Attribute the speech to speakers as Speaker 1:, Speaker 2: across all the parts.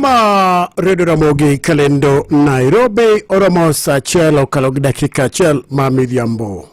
Speaker 1: ma redio ramogi kalendo nairobi oromo saa achiel okalo gi dakika achiel ma midhiambo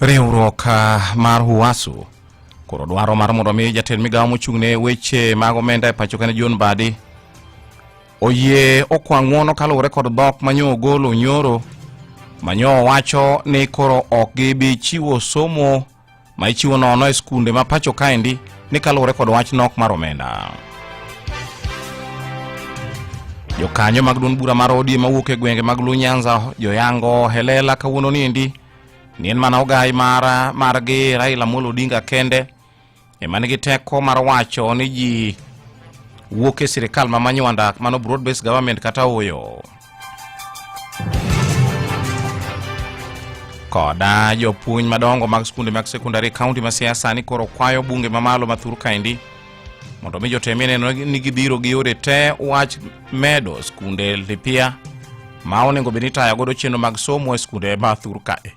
Speaker 2: Riwruok ah, mar Huwasu koro dwaro mar mondo mi jatend migawo mochung' ne weche mag omenda e pacho kane John Badi oyie okwa ng'uono kaluwore kod dhok manyo ogolo nyoro manyo wacho ni koro ok gibi chiwo somo ma ichiwo nono e skunde ma pacho kaendi ni kaluwore kod wach nok mar omenda jokanyo mag duond bura mar odi mawuok e gwenge mag lunyanza joyango helela kawuono niendi ni en mana ogai mara margi Raila Amolo Odinga kende ema nigi teko mar wacho ni ji wuok e sirikal ma manywanda mano broad based government kata oyo koda jopuonj madongo mag skunde mag sekondari kaunti ma siasa ni koro kwayo bunge mamalo ma thur kaendi mondo mi jotemie neno ni gibiro gi yore te wach medo skunde lipia ma onego bed ni tayo godo chenro mag somo e skunde ma thur kae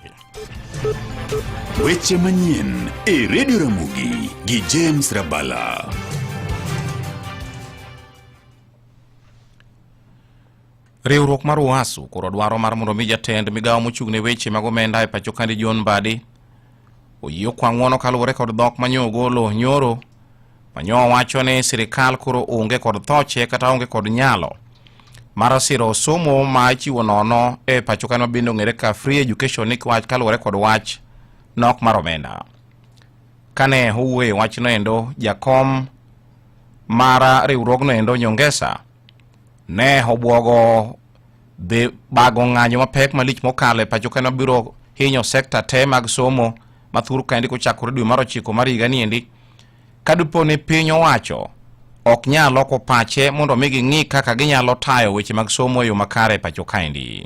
Speaker 3: weche manyien e redio ramogi gi james rabala
Speaker 2: Riwruok mar UASU koro dwaro mar mondo mi jatend migawo mochung' ne weche mag omenda e pacho kandi John Mbadi oyie okwang'uono kaluwore kod dhok ma nyo ogolo nyoro ma nyo wacho ni sirikal koro onge kod thoche kata onge kod nyalo mar siro somo ma ichiwo nono e pacho kandi mabende ong'ere ka free education ni wach kaluwore kod wach nok mar omenda kane owuoye wachno endo jakom mar riwruogno endo nyongesa Ne obwogo dhi bago ng'anyo mapek malich mokalo e pacho kane obiro hinyo sekta te mag somo ma thur kaendi kochakore dwe mar ochiko mar higa niendi ka dipo ni piny owacho ok nyal loko pache mondo mi ging'i kaka ginyalo tayo weche mag somo e yo makare e pacho kaendi.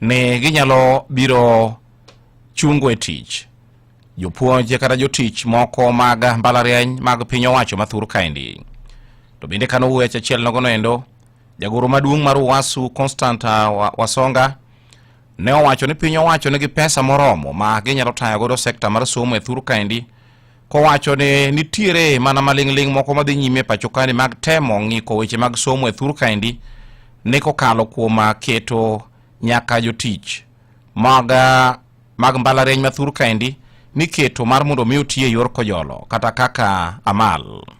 Speaker 2: ni ginyalo biro chungo e tich jopuonj kata jotich moko mag mbalariany mag piny owacho mathur kaendi to bende kano wuoyo achiel nogono endo jagoro maduong' mar uwasu constant ah, wasonga ne owacho ni piny owacho nigi pesa moromo ma ginyalo tayo godo sekta mar somo e thur kaendi kowacho ni nitiere mana maling'ling' moko madhi nyime e pacho kani mag temo ng'iko weche mag somo e thur kaendi ni kokalo kuom ah, keto nyaka jotich mag ah, mag mbalariany ma thur kaendi niketo mar mondo mi otiye yor kojolo kata kaka amal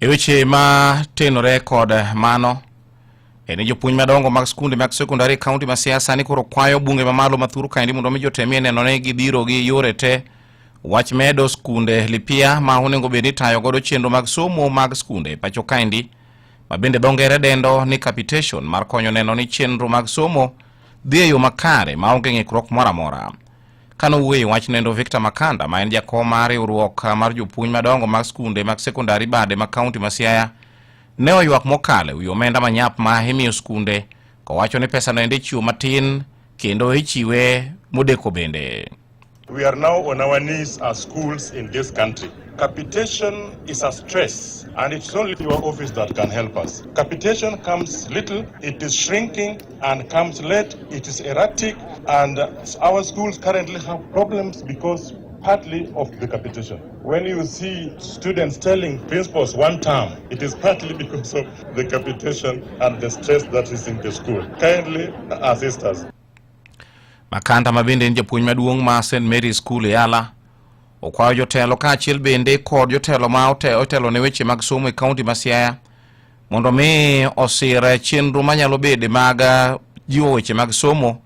Speaker 2: E weche ma tenore kod mano e ni jopuonj madongo mag skunde mag sekondari e kaunti ma Siasa ni koro kwayo bunge mamalo mathuru kaendi mondo mi jotemie neno ni gidhiro gi yore te wach medo skunde lipia ma onego bed ni tayo godo chenro mag somo mag skunde e pacho kaendi ma bende dho ngere dendo ni capitation mar konyo neno ni chenro mag somo dhi e yo makare ma onge ng'ikruok moro amora Kane owuoyo e wachno endo Victor Makanda ma en jakom mar riwruok mar jopuonj madongo mag skunde mag sekondari bade ma kaunti ma Siaya ne oywak mokalo e wi omenda manyap ma imiyo skunde kowacho ni pesano ende ichiwo matin kendo ichiwe modeko bende. We are now
Speaker 4: on our knees as schools in this country. Capitation is a stress, and it's only your office that can help us. Capitation comes little, it is shrinking, and comes late, it is erratic, and our schools currently have problems because partly of the capitation. When you see students telling principals one term, it is partly because of the capitation and the stress that is in the school. Kindly assist us.
Speaker 2: Makanda ma bende en japuonj maduong' ma St Mary School e Yala okwayo jotelo kaachiel bende kod jotelo ma otelo ne weche mag somo e kaunti ma Siaya Mondo mi osir chenro manyalo bede mag jiwo weche mag somo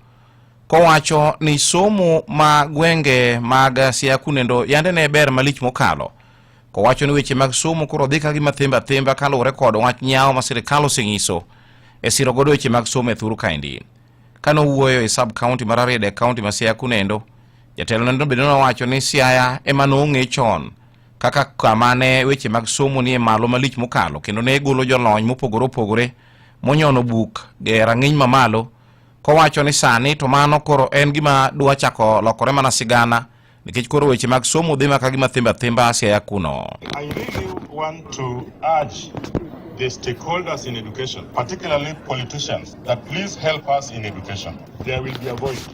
Speaker 2: kowacho ni somo ma gwenge mag Siaya kunendo yande ne ber malich mokalo kowacho ni weche mag somo koro dhi ka gima thimba thimba kaluwore kod wach nyawo ma sirikal oseng'iso e siro godo weche mag somo e thuru kaendi. Kane owuoyo e sub county mar Rarieda e county ma Siaya kunendo, jatelo nendo bende nowacho ni Siaya ema nong'e chon kaka kama ne weche mag somo nie malo malich mokalo kendo ne golo jolony mopogore opogore monyono buk e rang'iny mamalo kowacho ni sani to mano koro en gima dwa chako lokore mana sigana nikech koro weche mag somo dhi maka gima thimba thimba siaya kuno I really want
Speaker 4: to urge the stakeholders in education, particularly politicians, that please help us in education. There will be a voice.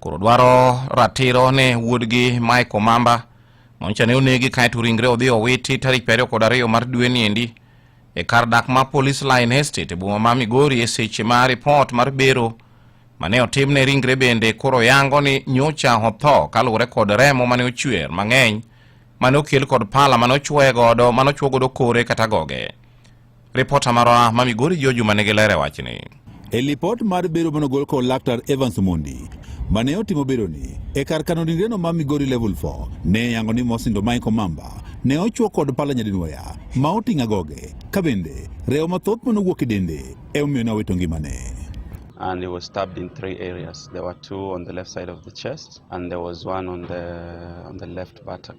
Speaker 2: koro dwaro ratiro ne wuodgi Mike Omamba moncha ne onegi kaeto ringre odhi owiti tarik piero kod ariyo mar dwe ni endi e kar dak ma Police Line Estate e boma ma Migori e seche ma ripot mar bero mane otimne ringre bende koro yango ni nyocha otho kaluwore kod remo mane ochwer mang'eny mane okel kod pala mane ochwe godo mane ochwo godo kore kata goge Ripota marwa ma Migori jo juma nigi ler e wachni. E lipot
Speaker 5: mar bero manogol kod laktar Evans Mondi mane otimo beroni e kar kano ringreno ma Migori Level 4 ne yango ni Mosindo Michael Mamba ne ochuo kod pala nyadinwoya ma oting'a goge ka bende rewo mathoth manowuok e dende e omiyo ne owito ngimane. and he was
Speaker 6: stabbed in three areas. There were two on the left side of the chest, and there was one on the on the left buttock.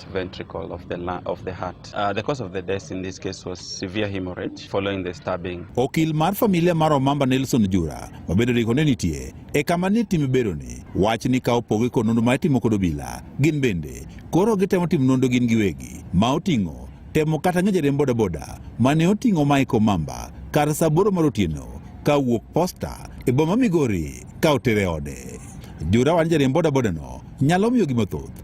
Speaker 6: left ventricle of the, la- of the heart. Uh, the cause of the death in this case was severe hemorrhage following the stabbing. Okil mar familia
Speaker 5: mar Omamba Nelson Jura mabedo ni kone nitie e kama ni tim beroni wach ni ka opogo kod nonro ma itimo kod obila gin bende koro gitemo timo nonro gin giwegi ma oting'o temo kata ng'e jariemb bodaboda mane oting'o Mike Omamba kar saa aboro mar otieno ka wuok posta e boma Migori ka otere ode. Jura wani jariemb bodaboda no nyalo miyo gima thoth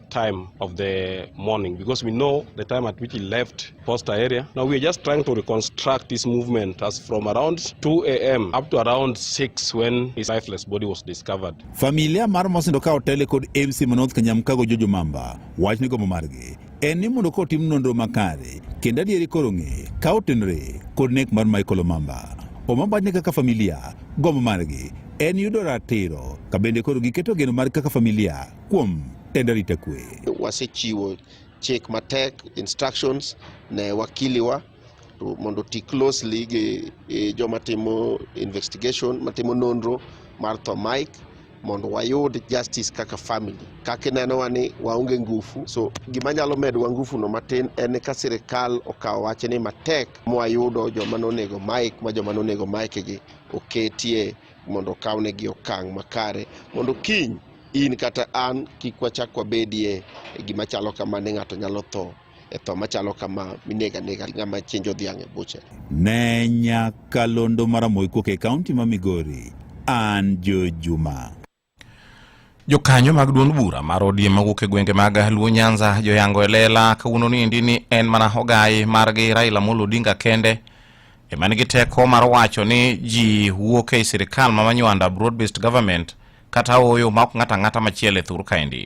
Speaker 7: time of the morning because we know the time at which he left Posta area. Now we are just trying to reconstruct this movement as from around 2 a.m. up to around 6 when his lifeless body was discovered. Familia mar
Speaker 5: mosindo ka otele kod MC Manouth Kanyamkago Jojo Mamba wach ni gomo margi en ni mondo ka otim nonro makare kendo adieri koro ng'e ka otenre kod nek mar Michael Omamba. Omamba ni kaka familia gomo margi en yudo ratiro ka bende koro giketo geno mar kaka familia kuom tend arita kwe. Wasechiwo
Speaker 8: chik matek instructions ne wakiliwa mondo ti closely gi e, joma timo investigation matimo nonro mar tho Mike mondo wayud justice kaka family kaka inenowa ni waonge ngufu so gima nyalo medowa ngufuno matin en ka sirikal okawo wachni matek mwayudo joma nonego Mike ma joma nonego Mike gi oketie mondo okawnegi okang' makare mondo kiny in kata an kik wachak wabedie e gima chalo kama ne ng'ato nyalo tho e tho machalo kama minega nega ng'ama chinjo dhiang' e buche. Ne
Speaker 5: nyakalondo maramoikuok e kaunti ma Migori, an Joe Juma.
Speaker 2: Jokanyo mag duond bura mar ODM mawuok e gwenge mag Luo Nyanza joyango e lela kawuono ni endi ni en mana ogayi margi Raila Amolo Odinga kende ema nigi teko mar wacho ni ji wuok ei sirikal ma manywanda broad based government kata oyo ma ok ng'ato ang'ata machielo e thur kaendi.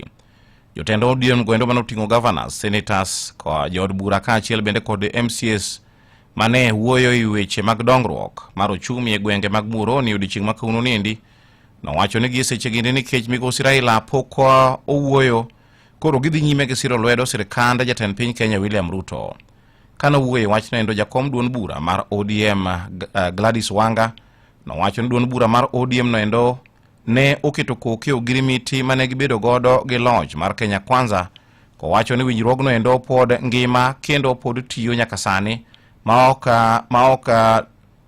Speaker 2: Jotend ODM gwendo mane oting'o governors, senators, jood bura kaachiel bende kod MCS mane wuoyo e weche mag dongruok mar ochumi e gwenge mag Muhoroni odiechieng' ma kawuono ni endi Nowacho ni giseche gini nikech migosi Raila pok owuoyo, koro gidhi nyime gi siro lwedo sirkand jatend piny Kenya William Ruto. Kane owuoyo e wachno endo jakom duond bura mar ODM eh, Gladys Wanga nowacho ni duond bura mar ODM no endo ne oketo koke ogirimiti mane gibedo godo gi loch mar Kenya Kwanza kowacho ni winjruogno endo pod ngima kendo pod tiyo nyaka sani maok maok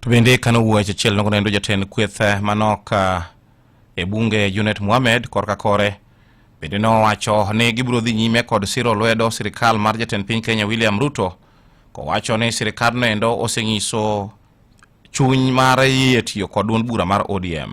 Speaker 2: To bende kano wuoyo achiel nogo nendo jatend kweth eh, manok eh, e bunge Junet Mohamed korka kore bende nowacho ni gibiro dhi nyime kod siro lwedo sirikal mar jatend piny Kenya William Ruto kowacho ni sirikadno endo oseng'iso chuny mar yie tiyo kod duond bura mar ODM.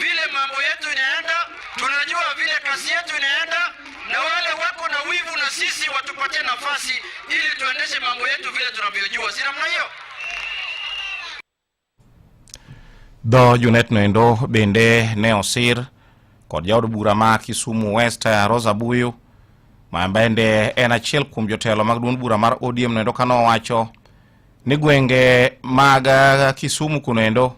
Speaker 9: vile mambo yetu inaenda, tunajua vile kazi yetu inaenda, na wale wako na wivu na sisi watupatie nafasi ili tuendeshe mambo yetu vile tunavyojua, si namna hiyo?
Speaker 2: Dho Junet noendo bende ne osir kod jaod bura ma Kisumu West Rosa Buyu ma bende en achiel kuom jotelo mag duond bura mar ODM noendo ka nowacho ni gwenge mag uh, Kisumu kuno endo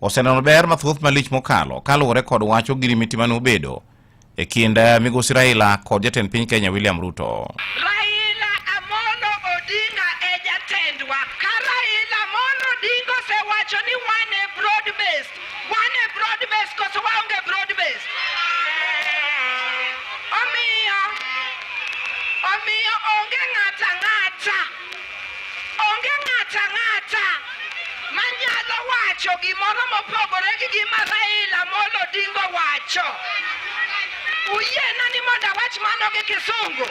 Speaker 2: oseneno ber mathoth malich mokalo kaluwore kod wach ogirimiti mane obedo e kind uh, migosi Raila kod jatend piny Kenya William Ruto. Raila
Speaker 10: Amolo Odinga e jatendwa. Ka Raila Amolo Odinga osewacho ni wan e broad based, wan e broad based koso waonge broad based. Omiyo, omiyo onge ng'ata ng'ata Onge ng'ato ang'ata manyalo wacho gimoro mopogore gi gima Raila Amolo Odinga wacho. Uyiena ni mondo awach mano gi Kisungu?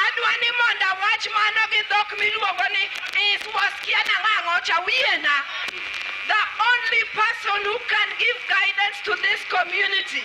Speaker 10: Adwa ni mondo awach mano gi dhok miluongo ni is was kiana ng'ang'o cha uyiena. The only person who can give guidance to this community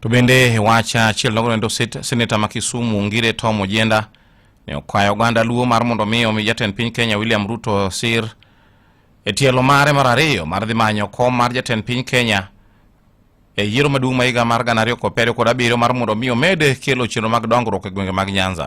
Speaker 2: To bende wacha achiel nogonendo seneta ma Kisumu Ngire Tom Ojenda ne okwayo oganda luo mar mondo mi omi jatend piny Kenya William Ruto sir e tielo mare mar ariyo mar dhi manyo kom mar jatend piny Kenya e yiero maduong' ma higa mar gana ariyo kod piero kod abiriyo mar mondo mi omed kelo chenro mag dongruok e gwenge mag Nyanza.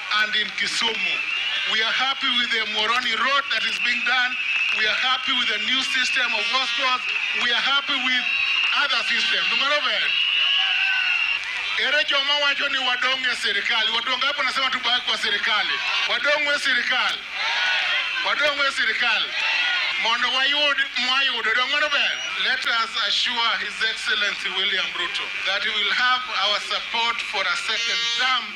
Speaker 11: And in Kisumu, we are happy with the Moroni road that is being done. We are happy with the new system of hospitals. We are happy with other systems. Ere joma wacho ni wadong e serikali. Watu wangapi wanasema tubaki kwa serikali? Wadong we serikali. Wadong we serikali. Mondo wayud mwayudo dong'ono ber. Let us assure His Excellency William Ruto that he will have our support for a second term.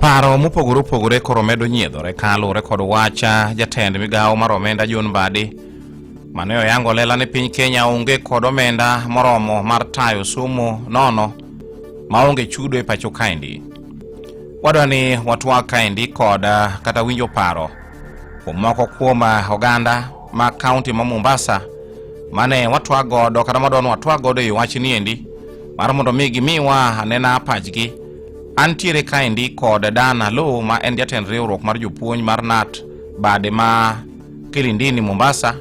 Speaker 2: Paro mopogore opogore koro medo nyiedhore ka luwore kod wacha jatend migawo mar omenda John Mbadi mane oyango lela ni piny Kenya onge kod omenda moromo mar tayo somo nono maonge chudo e pacho kaendi. Wadwa ni watwa kaendi kod ah, kata winjo paro kuom moko kuom ah, oganda ma kaunti ma Mombasa mane watwa godo kata madwa ni watwa godo e wachni endi mar mondo mi gimiwa anena pachgi Antiere kaendi kod Dan Alo ma en jatend riwruok mar jopuonj mar NAT bade ma Kilindini Mombasa.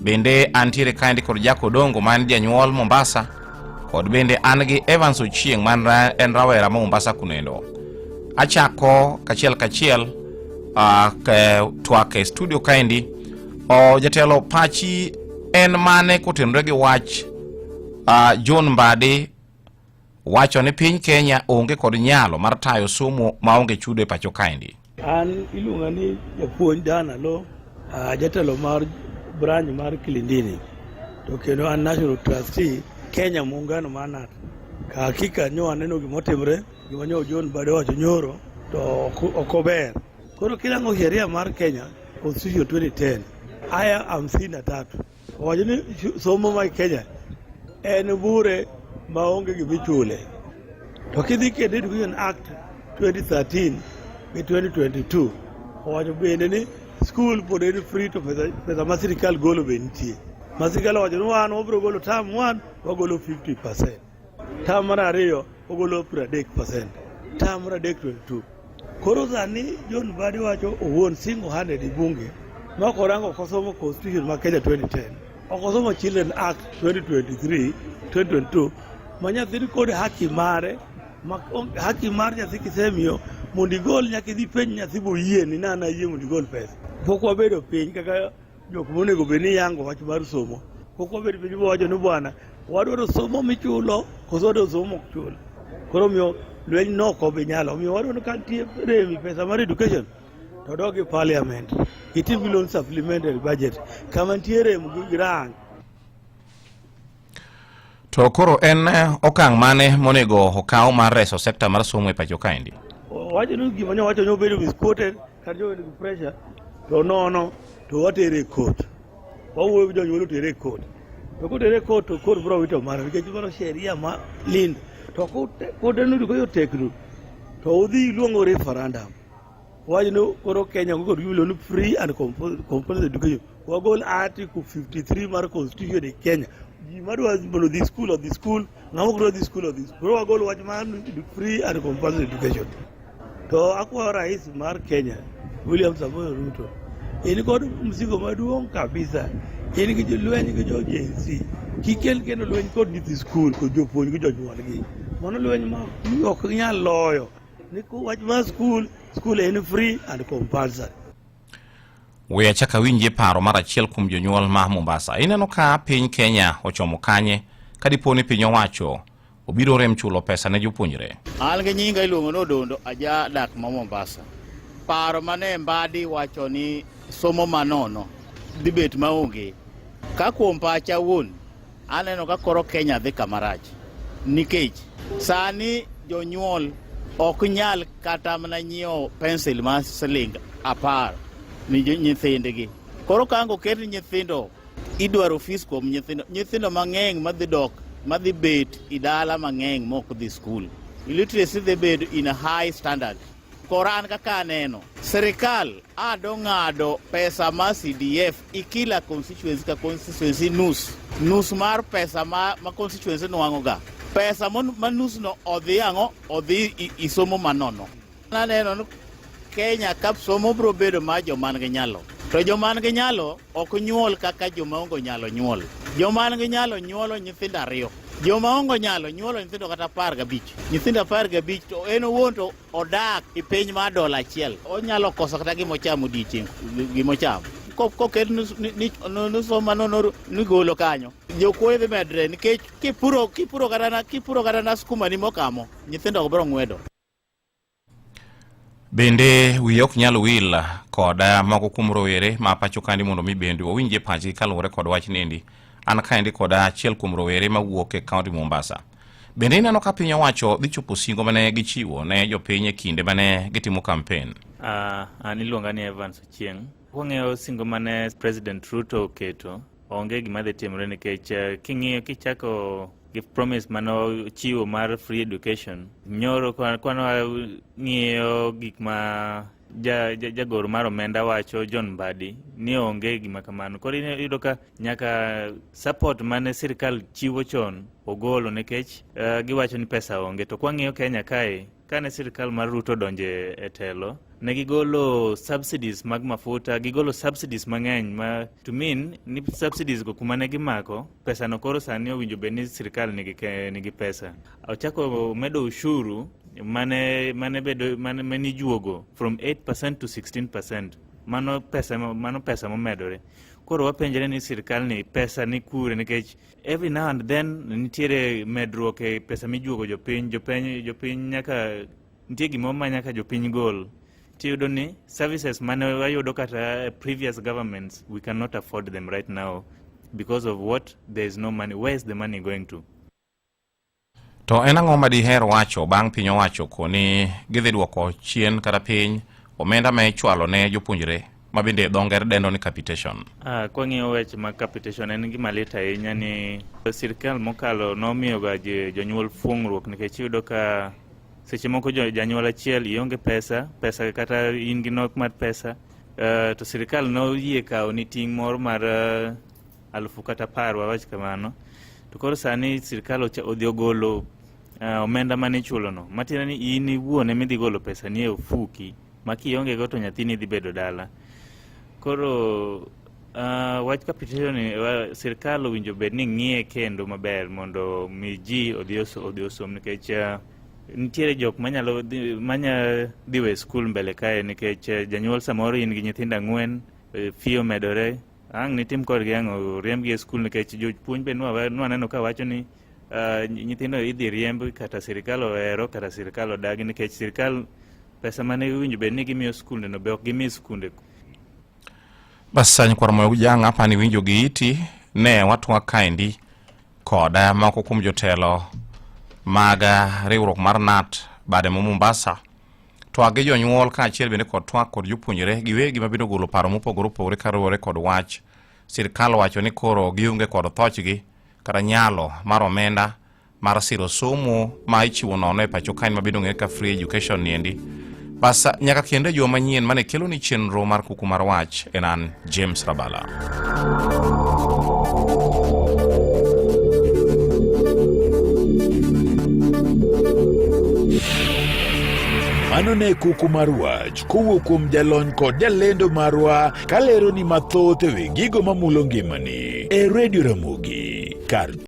Speaker 2: Bende antiere kaendi kod Jack Odongo ma en janyuol Mombasa kod bende an gi Evans Ochieng ma en rawera ma Mombasa kunendo. Achako kachiel kachiel uh, ke, twak e studio kaendi. O, jatelo pachi en mane kotenore gi wach uh, John Mbadi wacho ni piny Kenya onge kod nyalo mar tayo somo maonge chudo e pacho kaendi. An iluonga
Speaker 12: ni japuonj Dan Alo, ah, jatelo mar branch mar Kilindini to kendo an national trustee Kenya muungano mar NAT. Ka hakika nyo aneno gimotimre gima nyo John Bade wacho nyoro to ok- ok ober. Koro kirango sheria mar Kenya Constitution 2010 aya hamsini na tatu Owacho ni somo ma Kenya en bure ma onge gima ichule. To kidhi kendo Education Act 2013 gi 2022 owacho bende ni skul pod en free to pesa, pesa ma sirikal golo be nitie. Ma sirikal owacho ni wan wabiro golo tam wan wagolo 50 percent. Tam mar ariyo ogolo 30%, tam mar adek 22. Koro sani John Mbadi wacho owuon single handed e bunge ma korango kosomo constitution ma Kenya 2010, okosomo Children Act 2023, 2022 ma nyathi kod haki mare ma haki mar nyathi kisemiyo mondo igol nyaka idhi penj nyathi boyie ni nana yie mondo igol pesa. Pok wabedo piny kaka Jok monego bed ni yango wach mar somo pok wabed piny wawacho ni bwana wadwaro somo michulo koso wadwaro somo mok chul koro miyo lweny nok obi nyalo omiyo wadwaro ni ka nitie remi pesa mar education to dog e parliament itim gi loan supplementary budget kama nitie rem gi grant
Speaker 2: To koro en eh, okang' mane monego okaw mar reso sekta mar somo e pacho kaendi? Wacho ni gima
Speaker 12: nyo wacho ni obedo misquoted kata jo nigi pressure to nono to watere e court. Wawuoyo gi jonyuol otere e court. To kotere e court to court biro wito mano nikech mano sheria ma lind. To kote kote nudu koyo teknu to udhi iluongo referendum. wajno koro Kenya go kod gimiloni free and compulsory education wagol article 53 mar constitution e Kenya ji madwa mondo dhi school odhi school ng'ama ok dwa dhi school odhi school koro wagol wach mar free and compulsory education to akwayo rais mar Kenya William Samoei Ruto in kod msigo maduong' kabisa in gi jolweny gi jo Gen Z kikel kendo lweny kod nyithi skul kod jopuonj gi jonyuolgi mano lweny ma ok nyal loyo
Speaker 2: We achaka winje paro mar achiel kuom jonyuol ma Mombasa. Ineno ka piny Kenya ochomo kanye ka dipo ni piny owacho obiro rem chulo pesa ne jopuonjre. An gi nyinga iluongo
Speaker 13: ni Odondo aja dak ma Mombasa. Paro mane Mbadi wacho ni somo manono dibet maonge ka kuom pacha wuon Aneno ka koro Kenya dhi kama rach nikech sani jonyuol ok nyal kata mana nyiewo pensil ma siling apar ni nyithindgi. Koro ka ang' oket nyithindo idwaro fees kuom nyithindo nyithindo mang'eny madhi dok madhi bet i dala mang'eny mok dhi skul. Illiteracy dhi bedo in a high standard. Koran kaka aneno, serikal ado ng'ado pesa ma CDF ikila constituency ka constituency nus nus mar pesa ma, ma constituency nwang'oga pesa ma nusno odhi ang'o odhi isomo manono. Aneno ni Kenya ka somo biro bedo ma joman gi nyalo to joman gi nyalo Ok nyuol kaka joma ongo nyalo nyuol. Joma nigi nyalo nyuolo nyithindo ariyo. Joma ongo nyalo nyuolo nyithindo kata apar gabich. Nyithindo apar gabich to en owuon to odak e piny mar dola achiel. Onyalo koso kata gima ochamo odiechieng' gima ochamo. koket nusoma nigolo kanyo jokuoye dhi medre nikech kipuro kipuro kata na skuma ni mokamo nyithindo ok biro ng'wedo
Speaker 2: Bende wiye ok nyal wil kod eh, moko kuom rowere ma pacho kandi mondo mi bende owinje pachgi kaluwore kod wach nendi an kaendi kod achiel kuom rowere ma wuok e kaunti Mombasa. Bende ineno ka piny owacho dhi chopo singo mane gichiwo ne jopiny e kinde mane gitimo kampen. Uh, ah, an
Speaker 14: iluonga ni Evans Ochieng. Wang'eyo singo mane President Ruto oketo onge gima dhi timore nikech eh, king'iyo kichako gi promise mane ochiwo mar free education nyoro kwana ng'iyo gik ma jagoro mar omenda wacho John Mbadi ni onge gima kamano. Koro iyudo ka nyaka support mane sirkal chiwo chon ogolo nikech uh, giwacho ni pesa onge. To kwang'iyo Kenya kae Kane sirkal mar Ruto donje e telo, ne gigolo subsidies mag mafuta, gigolo subsidies mang'eny ma to mean ni subsidies go kuma ne gimako pesa no koro sani owinjo bed ni sirkal nigi, nigi pesa. Ochako medo ushuru mane mane bedo mane, mane ijuogo from 8% to 16%. Mano pesa mano pesa momedore. Koro wapenjre ni sirkal ni pesa ni kure nikech Every now and then nitiere medruok e pesa mijuogo jopiny jopiny jopiny nyaka nitie gimoro ma nyaka jopiny gol tiyudo ni services mane wayudo kata previous governments we cannot afford them right now because of what there is no money where is the money going to
Speaker 2: To en ang'o ma diher wacho bang' piny owacho koni gidhi dwoko chien kata piny omenda ma ichwalo ne jopuonjre ma bende dho ngere dendo ni capitation? Ah, kwang'iyo weche
Speaker 14: mag capitation en gima lit ahinya ni sirkal mokalo nomiyoga jonyuol fuong'ruok nikech iyudo ka seche moko janyuol achiel ionge pesa pesa kata in gi nok mar pesa uh, to sirkal noyie kawo ni ting' moro mar uh, alufu kata par wawach kamano to koro sani sirikal odhi ogolo uh, omenda mane ichulono matiende ni in iwuon ema idhi golo pesa ni e ofuki ma kiongego to nyathini dhi bedo dala koro uh, wach kapitio ni uh, sirikal owinjo bed ni ng'iye kendo maber mondo mi ji odhi osom nikech uh, nitiere jok manyalo manya dhiwe skul mbele kae nikech uh, janyuol samoro in gi nyithindo ang'wen uh, fiyo medore Ang' nitim kodgi ang'o? Riembgi e skul nikech jopuonj be nwaneno ka wacho ni uh, nyithindo idhi riemb kata sirikal ohero kata sirikal odagi nikech sirikal pesa mane winjo bed ni gimiyo skunde no be ok gimi skunde.
Speaker 2: Bas sani kwar moyo jang' apa ni winjo gi iti ne watwa kaendi koda moko kuom jotelo mag riwruok mar NAT bade mo Mombasa Twak gi jonyuol kaachiel bende kod twak kod jopuonjre giwegi ma biro golo paro mopogore opogore kaluwore kod wach. Sirkal wacho ni koro gionge kod thochgi kata nyalo mar omenda mar siro somo ma ichiwo nono e pacho kaen mabiro ng'ere ka free education niendi. Bas nyaka kendo e juma manyien mane kelo ni chenro mar kuku mar wach e nan. James Rabala.
Speaker 3: mano ne kuku mar wach kowuok kuom jalony kod jalendo marwa kalero ni mathoth ewi gigo mamulo ngimani e redio ramogi kar